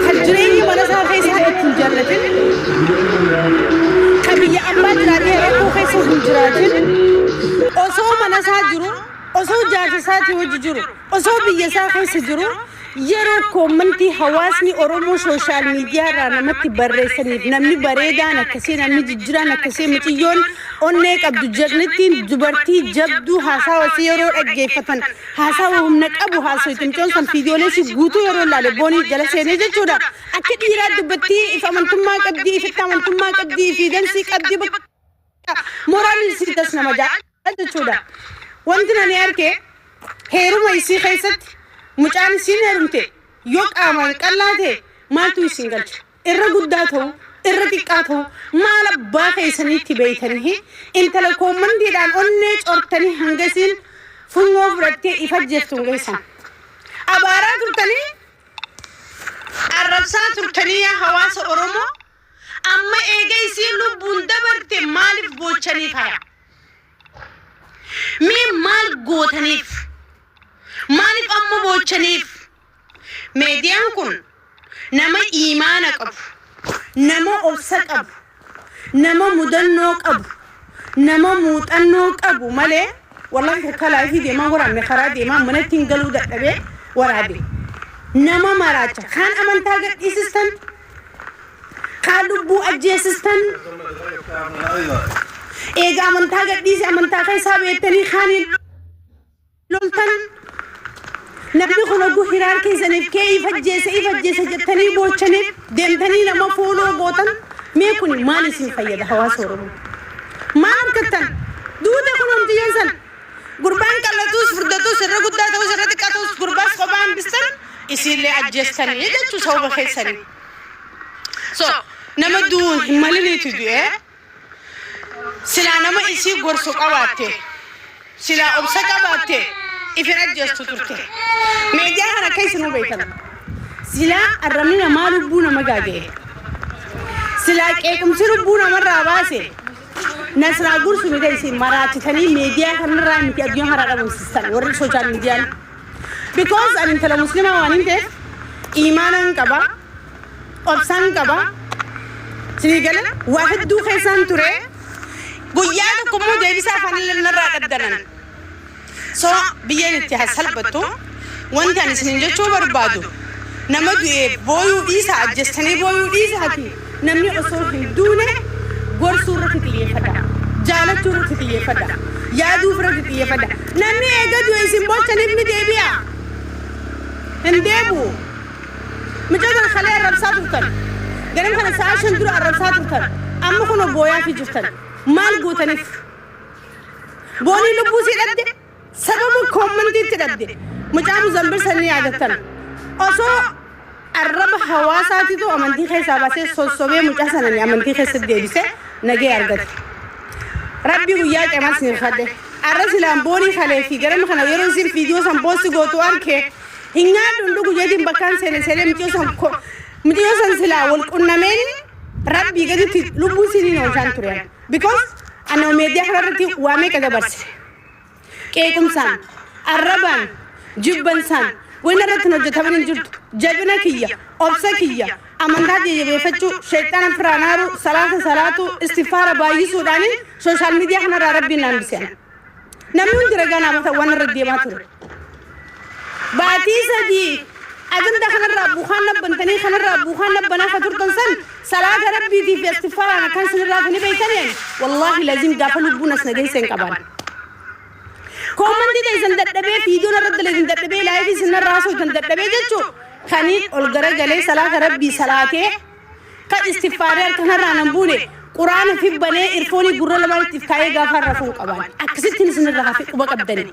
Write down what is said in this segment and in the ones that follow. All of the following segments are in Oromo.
kan jireenyi mana isaa keessaa itti hin jaallatin kan biyya abbaa jiraatee rakkoo keessa hin jiraatin osoo mana isaa jiru osoo jaarsa isaatii wajji jiru osoo biyya isaa keessa jiru yeroo koommantii hawaasni oromoo sooshaal miidiyaa irraa namatti barreessaniif namni bareedaan akkasii namni jijjiraan akkasii muciyyoon onnee qabdu jedhanittiin dubartii jabduu haasaa wasii yeroo dhaggeeffatan Haasawa humna qabu haasoyte micoon san fiidiyoolee isii guutuu yeroon laale booniis jala seenee jechuudha akka dhiiraa dubbattii if amantummaa qabdii ifitti amantummaa qabdii ifiidansii qabdii bakka mooraalii isii das nama ja'a jechuudha wanti nani arke heeruma isii keessatti mucaan isiin heerumte yoo qaamaan qallaa ta'e maaltu isin galche Irra guddaa ta'u, irra xiqqaa ta'u, maal abbaa keessanii itti beeytanihi, intala koommandiidhaan onnee cortanii hanga isiin funyoo fudhattee if ajjeeftu hin geessan. Abaaraa turtanii, arrabsaa turtanii yaa hawaasa Oromoo, amma eega isiin lubbuun dabarte maaliif boochanii kaya? Mee maal gootaniif? Maaliif amma boochaniif? Meediyaan kun nama iimaana qabu, nama obsa qabu, nama mudannoo qabu, nama muuxannoo qabu malee wallahi takka laayifii deemaan waraabne karaa deemaan manatti hin galuu dadhabee waraabe. Nama maraacha kaan amantaa gadhiisistan, kaan lubbuu ajjeesistan, eega amantaa gadhiise amantaa keessaa beektanii kaaniin loltan namni kun oguu hiraar keessaniif kee if ajjeese if ajjeese jettanii boochaniif deemtanii nama fooloo gootan mee kun maal isin fayyada hawaasa oromoo maal argattan duute kun homtiyyoon san gurbaan qallatus furdatus irra guddaa ta'us irra xiqqaa ta'us gurbaas kophaa hambistan isiillee ajjeestanii jechuu sababa keessanii so nama du'uun hin maliniitu du'ee Silaa nama isii gorsu qabaatte, silaa obsa qabaatte if hin ajjeestu turte. Meediyaa kana akka isinuu beektan, silaa arrabni namaa lubbuu nama gaaga'e, silaa qeequmsi lubbuu namarraa baase, Nasraa Gursumiidha isin maraachitanii meediyaa kanarraa miti addunyaa kanaa dhabamsiistan warri sooshaal miidiyaan because ani intala muslimaa waan hin ta'eef iimaanaan qaba obsaan qaba sinii gala waa hedduu keessaan ture guyyaa tokko immoo deebisaa afaanillee narraa dhaddanan so biyyeen itti haa salphattu wanti ani isinin jechuu barbaadu nama du'e booyuu dhiisa ajjestanii booyuu dhiisaati Namni osoo hin duune gorsuu irratti xiyyeeffadha. Jaalachuu irratti xiyyeeffadha. Yaaduuf irratti xiyyeeffadha. Namni eega du'e isin boochaniif ni deebi'a. Hin deebi'u. Mucaa tana kalee arrabsaa turtan. Ganam kana sa'a shan dura arrabsaa turtan. Amma kunoo booyaafii jirtan. Maal gootaniif? Boonii lubbuu sii dhabde. Sababa commentiitti dhabde mucaa muzambir san ni yaadattan osoo arraba hawaasaatitu amantii keessaa baasee sossobee mucaa sanani amantii keessatti deebise nagee argate rabbii guyyaa qeemaa sin hirkadhe arra silaan boonii kalee fi garama kana yeroo isin viidiyoo san boosti gootu arke hin nyaadhu hin dhugu jeetiin bakkaan seene seenee mucaa san mucaa san silaa wal qunnameen rabbii gaditti lubbuu siniin oolchaan ture because anoo meediyaa kanarratti waa meeqa dabarse qeequmsaan, arrabaan, jibbansaan wanni irratti hin hojjetamin hin jirtu. Jabina kiyya, obsa kiyya, amantaa tiyya jabeeffachuu, sheyxaana ofirraa naaruu, salaata salaatuu, istigfaara baay'isuudhaanin sooshaal miidiyaa kanarraa Rabbiin na hambise an. Namni hundi ragaa naa bata waan irra deemaa ture. Baatii sadii ajandaa kanarraa buukaan nabbantanii kanarraa buukaan nabbanaa ka turtan san salaata rabbiitii fi astigfaaraan akkaan isinirraa guni beeytanii ani wallaahi lazim gaafa lubbuun as na geeyse hin qabaan koomantii teeysan dadhabee fiidoo narra daleeysan dadhabee laayifii isinirraa haasooytan dadhabee jechuu kaniin ol garagalee salaata rabbii salaatee kan istigfaaree harkanarraa nan buune quraana fi banee irfoonii gurra lamaan ittiif kaayee gaafa rafuun qabaan akkasittiin isinirraa hafe quba qabdanii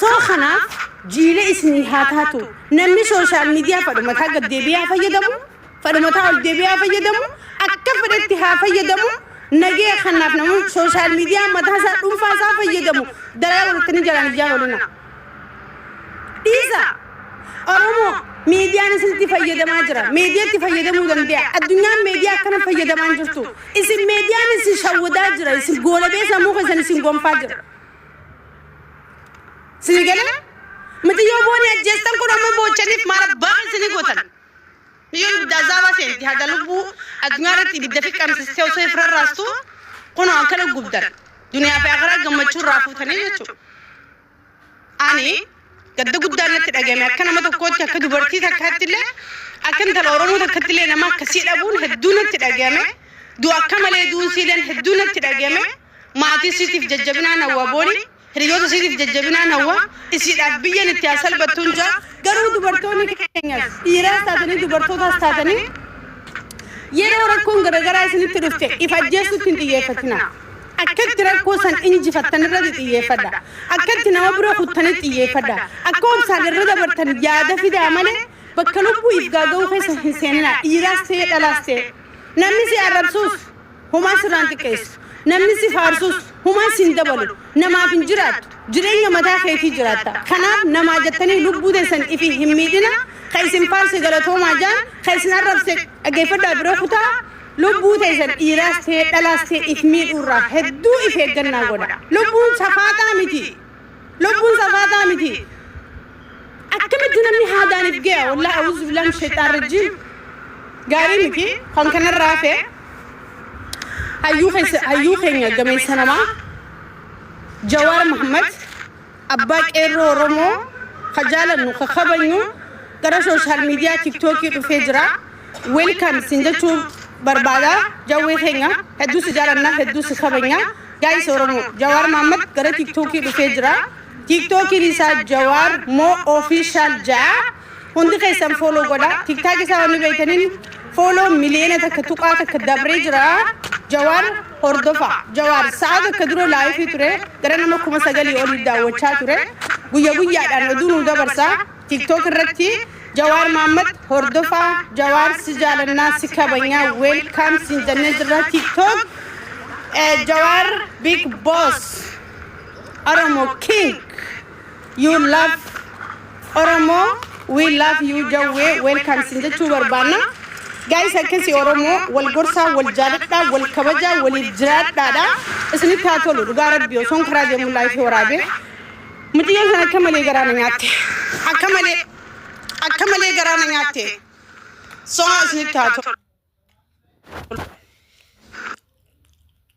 Soo kanaaf jiila isinii haa taatu. Namni sooshaal miidiyaa fadhumataa gad deebi'aa fayyadamu, fadhumataa ol deebi'aa fayyadamu, akka fedhetti haa fayyadamu, nagee kanaaf namni sooshaal miidiyaa mataa isaa dhuunfaa isaa fayyadamu dalagaa godhattanii jalaan ijaan olina. Dhiisa! Oromoo miidiyaan isinitti fayyadamaa jira. Miidiyaatti fayyadamuu danda'a. Addunyaan miidiyaa akkana fayyadamaa hin jirtu. Isin miidiyaan isin shawwadaa jira. Isin goolabee sammuu keessan isin gonfaa jira. Sini galee miti yoo booni ajjeestan kun amma boochaniif maal abbaa keessanii gootan. Yoo ibidda azaabaa seenti haga lubbuu addunyaa irratti ibidda fi qabsistee osoo if rarraastu kun akka dhukkubdan duniyaa fi akaraa gammachuu irraa fuutanii jechuudha. Ani Gadda guddaan natti dhagahame akka nama tokkootti akka dubartii takkaatti illee akka intala Oromoo takkatti illee nama akkasii dhabuun hedduu natti dhagahame du'a akka malee du'uun siileen hedduu natti dhagahame maatii siitiif jajjabinaan hawwa booni hiriyoota siitiif jajjabinaan hawwa isiidhaaf biyyan itti haa salbattuun jaa garuu dubartoonni keenyas dhiiraas taatanii dubartootaas taatanii yeroo rakkoon garaagaraa isinitti dhufte if ajjeessuutti hin xiyyeeffatinaa. Akka itti rakkoo san injifattan irratti xiyyeeffadha. Akka itti nama bira kuttanis xiyyeeffadha. Akka obsaan irra dabartan yaada fidaa malee bakka lubbuu if gaaga'uu keessa hin seeninaa. Dhiiraas ta'ee dhalaas ta'ee. Namni si arrabsuus homaa sirraan xiqqeessu. Namni si faarsuus homaa siin dabalu. Namaaf hin jiraattu. Jireenya mataa keetii jiraatta. Kanaaf namaa jettanii lubbuu teessan ifi hin miidhina. Ka isin faarse galatoomaa jaan, ka isin arrabse dhaggeeffadhaa bira kutaa. Lubbuu teessan dhiiraas ta'ee dhalaas ta'e if miidhuu irraa hedduu if eeggannaa godha. Lubbuun safaaxaa miti. Lubbuun safaaxaa miti. Akkamitti namni haadaan if gaya wallahi a'uuzu billaah min shayxaan rajjiim. Gaarii miti kan kanarraa hafe hayyuu keessa hayyuu keenya gameessa namaa Jawaar Mahammad Abbaa Qeerroo Oromoo ka jaalannu ka kabajnu gara social media tiktoki dhufee jira welcome sin jechuu barbaada jawwee keenya hedduu si jaalanna hedduu si kabajna guys Oromoo Jawaar Mahammad gara tiktoki dhufee jira tiktokin isaa Jawaar Mo Official ja'a Hundi keessan follow godha. Tiktak isaa wanni beeytaniin follow miliyoona takka tuqaa takka dabree jira. Jawaar hordofa. Jawaar sa'a takka dura laayifii ture. Gara nama kuma sagalii olii daawwachaa ture. Guyya guyyaadhaan oduu nu dabarsa. Tiktok irratti Jawaar Maammad hordofa. Jawaar si jaalannaa si kabanyaa welcome siin jennee jirra. Tiktok eh, Jawaar big boss. Oromo king. You love Oromoo we love you jawwee welcome sin jechuu barbaanna. Guys akkasi Oromoo wal gorsaa wal jaaladhaa wal kabajaa waliif jiraadhaadha. Isinitti haa tolu dhugaa rabbi osoon karaa deemu laayifii waraabee. Mucayyoon sana akka malee garaa na nyaatte. Akka malee akka malee garaa na nyaatte. Soo isinitti haa tolu.